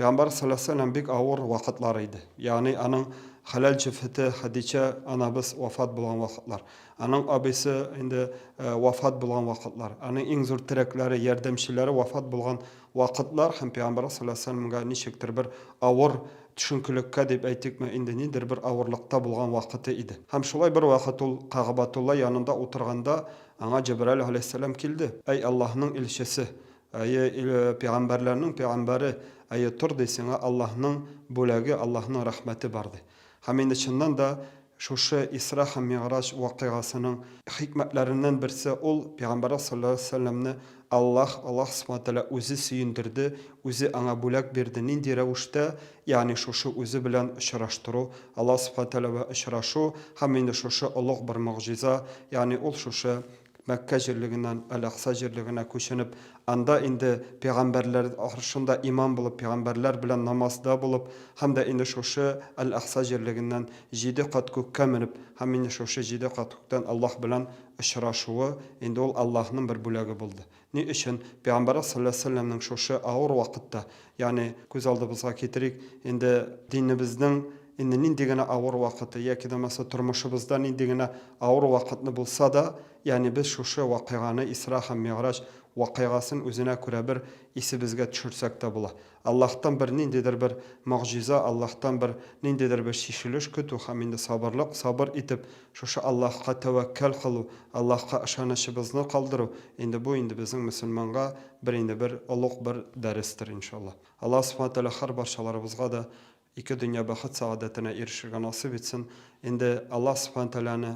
Пәйгамбәр сәләсәләм бик авыр вакытлар иде, ягъни аның хәләл җефете Хәдичә анабыз вафат булган вакытлар, аның абыйсы инде вафат булган вакытлар, аның иң зур терәкләре, ярдәмчеләре вафат булган вакытлар һәм Пәйгамбәр сәләсәләмгә ничектер бер авыр төшенкелеккә дип әйтикме, инде ниндидер бер авырлыкта булган вакыты иде. Һәм шулай бервакыт ул Кәгъбәтулла янында утырганда, аңа Җәбраил галәйһиссәлам килде, Әй Аллаһның илчесе! Әйе, пәйгамбәрләрнең пәйгамбәре, әйе, тор, ди, сиңа Аллаһның бүләге, Аллаһның рәхмәте бар, ди. Һәм инде чыннан да шушы Исра һәм Мигъраҗ вакыйгасының хикмәтләреннән берсе ул, пәйгамбәребез салләллаһу галәйһи ва сәлләмне Аллаһ, Аллаһ Субхана ва Тәгалә үзе сөендерде, үзе аңа бүләк бирде. Нинди рәвештә? Ягъни шушы үзе белән очраштыру, Аллаһ Субхана ва Тәгалә белән очрашу һәм инде шушы олуг бер могҗиза, ягъни ул шушы Мәккә җирлегеннән Әл-Акса җирлегенә күченеп, анда инде пәйгамбәрләр аршында имам булып, пәйгамбәрләр белән намазда булып һәм дә инде шушы Әл-Акса җирлегеннән җиде кат күккә менеп һәм инде шушы җиде кат күктән Аллаһ белән очрашуы, инде ул Аллаһның бер бүләге булды. Ни өчен Пәйгамбәребез салләллаһу галәйһи ва сәлләмнең шушы авыр вакытта, ягъни күз алдыбызга китерик, инде динебезнең инде нинди генә авыр вакыты яки дә булмаса тормышыбызда нинди генә авыр вакытны булса да, ягъни без шушы вакыйганы, Исра һәм Мигъраҗ вакыйгасын үзенә күрә бер исебезгә төшерсәк тә була. Аллаһтан бер ниндидер бер могҗиза, Аллаһтан бер ниндидер бер чишелеш көтү һәм инде сабырлык, сабыр итеп, шушы Аллаһка тәвәккәл кылу, Аллаһка ышанычыбызны калдыру, инде бу инде безнең мөселманга бер инде бер олуг бер дәрестер, иншаллаһ. Аллаһ Субхана Тәгалә һәр барчаларыбызга да ике дөнья бәхет-сәгадәтенә ирешергә насыйп итсен. Инде Аллаһ Субхана Тәгаләне.